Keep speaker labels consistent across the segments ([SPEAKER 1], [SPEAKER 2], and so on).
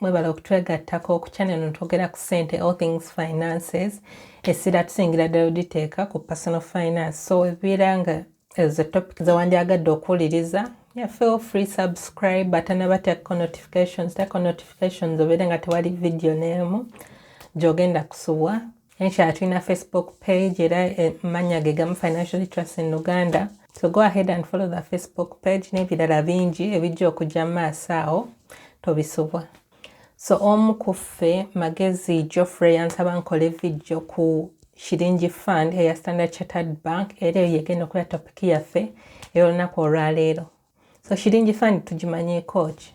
[SPEAKER 1] Mwebale okutwegattako ku channel no twogera ku sente all things finances essira tusingira ddala oditeeka ku personal finance so ebibeera nga ezo topic zewandyagadde okuwuliriza yeah, feel free subscribe ate nabateekako notifications teekako notifications obeere nga tewali video n'emu gyogenda kusubwa Inshallah tulina Facebook page era eh, mannya ge gamu Financial Literacy in Uganda. So go ahead and follow the Facebook page n'ebirala bingi ebijja okujja mu maaso awo tobisubwa. So omu ku ffe Magezi Geoffrey yansaba nkole vidiyo ku Shilingi Fund eya Standard Chartered Bank era eyo yegenda okubeera topiki yaffe ey'olunaku olwaleero. so shiringi fund tugimanyeeko ki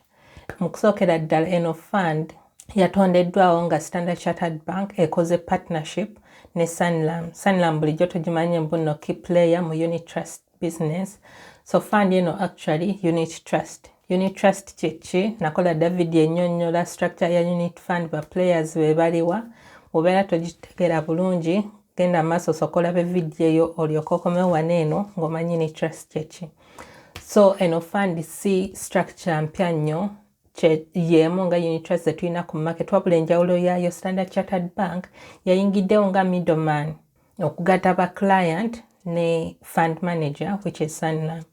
[SPEAKER 1] mu kusookera ddala eno fund yatondeddwawo nga standard chartered bank ekoze partnership ne sanlam sanlam bulijjo tugimanye mbunno key player mu unit trust business so fund eno actually unit trust unit trust kyeki nakola david enyonyola structure ya unit fund ba players bebaliwa obeera togitegera bulungi genda maaso sokola be vidiyo yo olyoka okomewo wana eno ngaomanyi unit trust kyeki so eno fund si structure mpya nnyo yeemu nga unit trust zetulina ku market wabula enjawulo yaayo standard chartered bank yayingiddewo nga middleman okugata ba client ne fund manager which is sanlam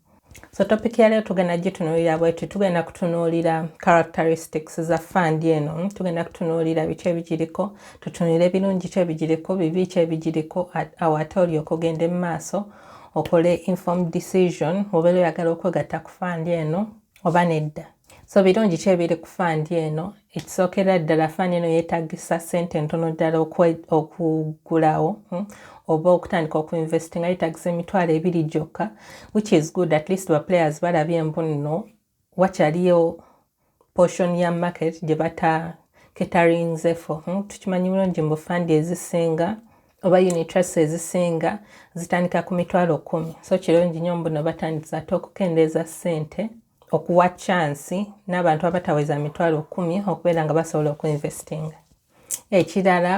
[SPEAKER 1] so topic yaleero tugenda gitunuulira bwetu tugenda kutunuulira characteristics za fund eno tugenda kutunuulira biki ebigiriko tutunulire ebirungi ki ebigiriko bibi ki ebigiriko awate olyoka ogende mu maaso okole informed decision obeera oyagala okwegatta ku fund eno oba nedda so birungi ki ebiri ku fund eno ekisookera ddala fund eno yeetagisa ssente entono ddala okugulawo hmm? oba okutandika okuinvestinga yeetagisa emitwalo ebiri gyokka which is good at least baplayers balabye embunno wakyaliyo portion ya market gye bata ketarinzefo hmm, tukimanyi bulungi mbu fandi ezisinga oba unitrust ezisinga zitandika ku mitwalo kumi so kirungi nyo mbuno batandisa ate okukendeeza sente okuwa chansi n'abantu abataweza mitwalo kumi okubeera nga basobola okuinvestinga ekirala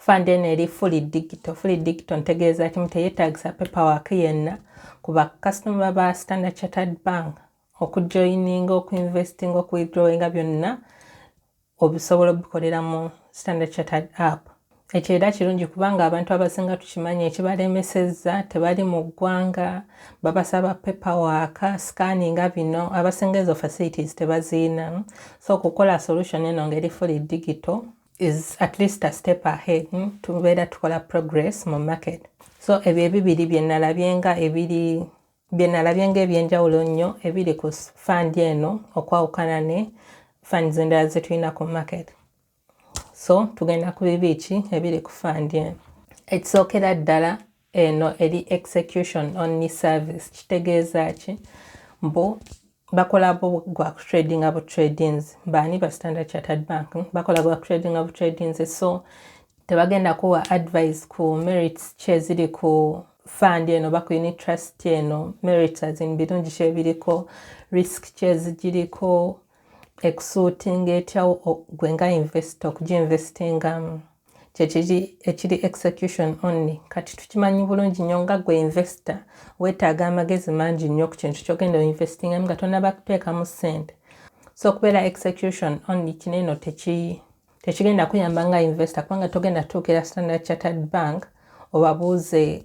[SPEAKER 1] fund eno eri fully digital fully digital ntegeeza kimu teyetagisa paperwork yenna ku bakasitoma ba standard chartered bank okujoininga okuinvestinga okuwithdrawinga byonna obisobola obikolera mu standard chartered app ekyo era kirungi kubanga abantu abasinga tukimanyi ekibalemesezza tebali mu ggwanga babasaba paperwork scanninga bino abasinga ezo facilities tebaziina so okukola solution eno ngeri fully digital is at least a step ahead hmm? tubeera tukola progress mu market so ebyo ebibiri byenalabye nga ebiri byenalabye nga ebyenjawulo nnyo ebiri ku fund eno okwawukana ne fund zendala zetulina ku market so tugenda ku bibiiki ebiri ku fandi eno ekisookera ddala eno eri execution only service kitegeeza ki mbu bakola gwa kutradinga bu tradings baani ba standard chartered bank bakola gwa kutradinga bu tradings so tebagenda kuwa advice ku merits kyeziri ku fund eno oba ku unit trust eno merits azin birungi kyebiriko risk kyezigiriko ekusuutinga etyawo gwe nga invest okuginvestingamu kyekiri ekiri execution only kati tukimanyi bulungi nnyo nga gwe investor weetaaga amagezi mangi nnyo ku kintu kyogenda oinvestingamu nga tonaba kuteekamu ssente so okubeera execution only kino eno tekigenda kuyamba nga investor kubanga togenda tuukira standard chartered bank obabuuze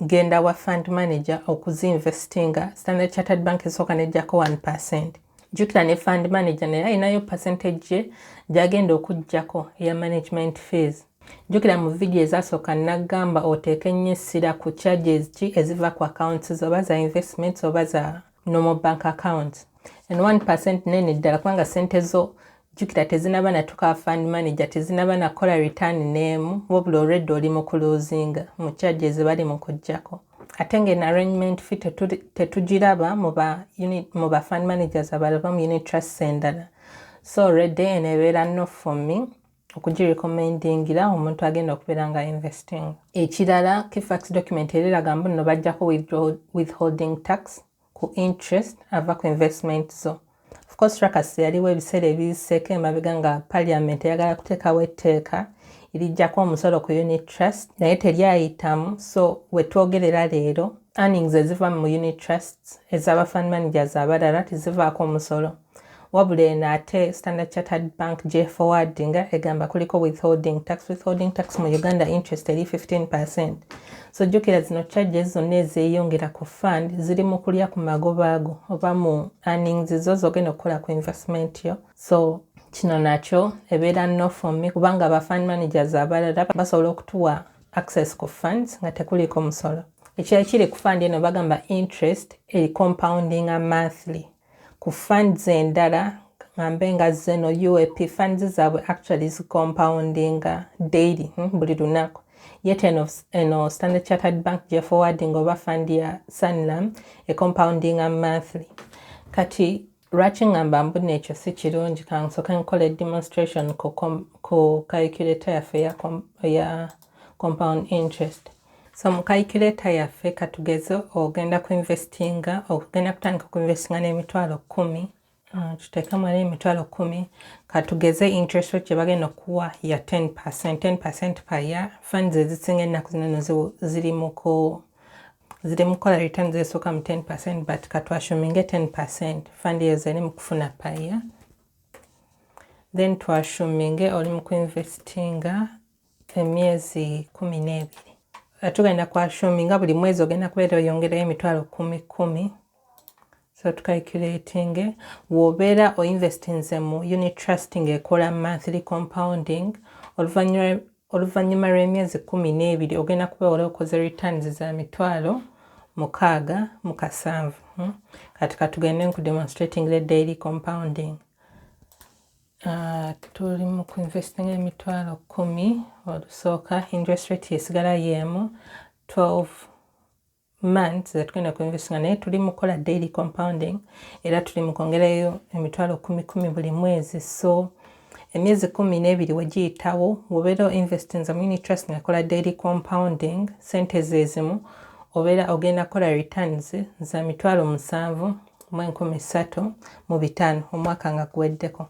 [SPEAKER 1] genda wa fund manager okuzinvestinga standard chartered bank esooka nejjako 1 percent jukira ne fund manager naye alinayo percentage ye gyagenda okujjako eya management fees jukira mu vidiyo ezasooka nagamba oteeke nnyo essira ku charges ki eziva ku accounts oba za investments oba za nomo bank account and 1% nene ddala kubanga sente zo jukira tezinaba natuka fund manager tezinaba nakola return nemu wabula already oli mu kuluzinga mu charges bali mu kujjako ate nga en arrangement fi tetugiraba mu ba unit mu ba fund managers abalaba mu unit trust endala so already enebeera no for me okugirecommendingira omuntu agenda okubeera nga investing ekirala kifax document era eraga mbu nno bajjako withholding tax ku interest ava ku investment zo ofcourse trakas yaliwo ebiseera ebiseeko emabega nga parliament eyagala kuteekawo etteeka erijjako omusolo ku unit trust naye teryayitamu so wetwogerera leero earnings eziva mu unit trusts ezaba fund managers abalala tezivaako omusolo Wabula eno ate Standard Chartered Bank gy'eforwardinga egamba kuliko withholding tax. Withholding tax mu Uganda interest eri 15%. So jjukira zino charges zonna ezeeyongera ku fund ziri mu kulya ku magoba ago oba mu earnings zo z'ogenda okukola ku investment yo. So kino nakyo ebeera no for me kubanga aba fund managers abalala basobola okutuwa access ku funds nga tekuliiko musolo. Ekirala kiri ku fund eno bagamba interest eri compounding a monthly. ku funds endala ngambe nga zeno UAP funds zaabwe actually zi compoundinga daily hmm, buli lunaku yet eno, eno Standard Chartered Bank gye forwarding oba fund ya Sanlam e compoundinga monthly kati lwaki ngamba mbuna ekyo si kirungi kansoke nkola demonstration ku, ku calculator yaffe ya, ya compound interest So mu calculator yaffe katugeze ogenda ku investinga okugenda kutandika ku investinga n'emitwalo kkumi uh, tuteekemu era emitwalo kkumi katugeze interest rate gye bagenda okuwa ya 10 percent 10 percent per year funds ezisinga ennaku zino no ziri mu ku ziri mu kukola return zesooka mu 10 percent but katwashuminge 10 percent fund eyo zeri mu kufuna per year then twashuminge oli mu kuinvestinga emyezi kumi n'ebiri eh, tugenda kwa shumi nga buli mwezi ogenda kubeera oyongerayo emitwalo kumi kumi so tucalculating wobeera oinvestinze mu unit trust ngaekola monthly compounding oluvannyuma lw'emyezi kumi n'ebiri ogenda kubeera okoze returns za mitwalo mukaaga mu kasanvu hmm? kati katugende nkudemonstrating the daily compounding Ah, tuli mu kuinvestinga emitwalo kumi olusooka interest rate yesigala yeemu 12 months zetugenda kuinvestinga naye tuli mu kukola daily compounding era tuli mu kwongerayo emitwalo kumi kumi buli mwezi so emyezi kumi n'ebiri wegiyitawo wobeera oinvestinza mu unit trust ngakola daily compounding sente zezimu obeera ogenda kukola returns za mitwalo musanvu mu enkumi ssatu mu bitaano omwaka nga guweddeko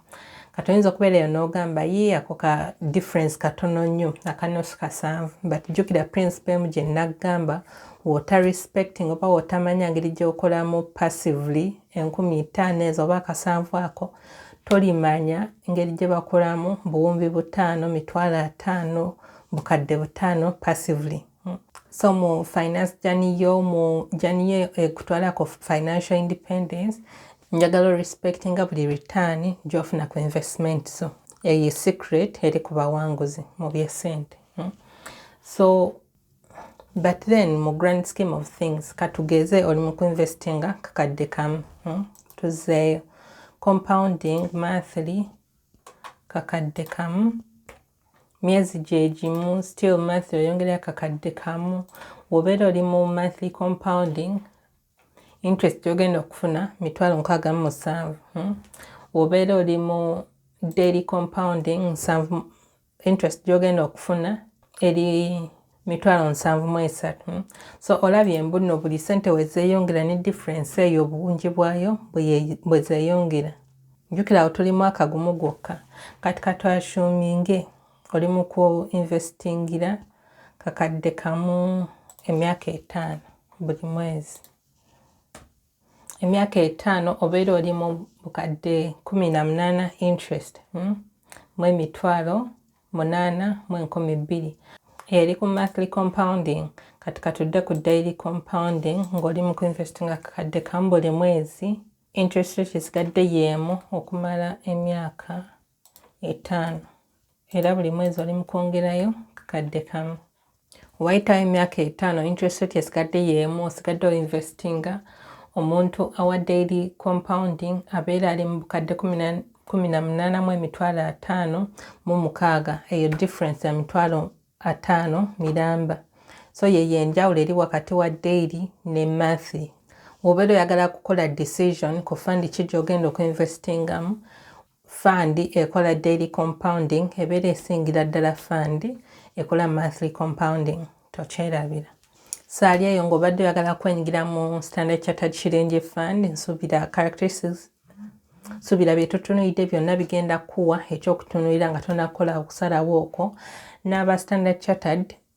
[SPEAKER 1] kati oyinza okubeera eyo n'ogamba ye ako ka difference katono nnyo akanusu kasanvu but jjukira principe emu gye nnaggamba wota respecting oba wotamanya ngeri gy'okolamu passively enkumi ttaano ezo oba akasanvu ako tolimanya ngeri gye bakolamu buwumbi butaano mitwalo ataano bukadde butaano passively so mu finance jani yo mu jani yo ekutwalako eh, financial independence njagala respect nga buli return gyofuna ku investment so eyo secret eri ku bawanguzi mu byesente hmm? so but then mu grand scheme of things katugeze oli mu kuinvestinga kakadde kamu hmm? tuzeeyo compounding monthly kakadde kamu myezi gyegimu still monthly oyongerayo kakadde kamu wobeera oli mu monthly compounding interest yogenda okufuna mitwalo nkaaga mu musanvu hmm? wobeera oli mu daily compounding nsanvu interest gyogenda okufuna eri mitwalo nsanvu mu esatu hmm? so olabye mbuno buli sente wezeyongera ne difference eyo obungi bwayo bwezeyongera njukira awo tuli mwaka gumu gwokka kati katwashuminge oli mu ku investingira kakadde kamu emyaka etaano buli mwezi emyaka etaano obeera oli mu bukadde kumi na munaana interest hmm? mu emitwalo munaana mu enkumi bbiri eri ku monthly compounding kati katudde ku daily compounding ng'oli mu kuinvest nga kakadde kamu buli mwezi interest rate esigadde yeemu okumala emyaka etaano era buli mwezi oli mukwongerayo kakadde kamu wayitawo emyaka etaano interest rate esigadde yeemu osigadde oinvestinga omuntu awa daily compounding abeera ali mu bukadde kumi na munaana mu emitwalo ataano mu mukaaga eyo difference ya mitwalo ataano miramba so yeyo enjawulo eri wakati wa daily ne mathy wobeera oyagala kukola decision ku fund ki gyogenda okuinvestingamu Fund ekola daily compounding ebeera esingira ddala fund ekola monthly compounding tokyerabira saali eyo ng'obadde oyagala kwenyigira mu standard chartered shilingi fund nsubira characteristics subira byetutunulidde byonna bigenda kuwa ekyokutunulira nga tonakukola okusalawo okwo n'aba standard chartered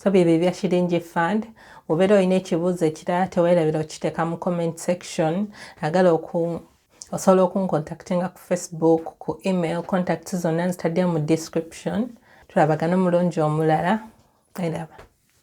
[SPEAKER 1] so byebyo ebya shilingi fund obeera olina ekibuuzo ekirala tewerabira okiteeka mu comment section agala oku osobola okuncontactinga ku facebook ku email contact zonna nzitadde mu description tulabagana omulungi omulala eraba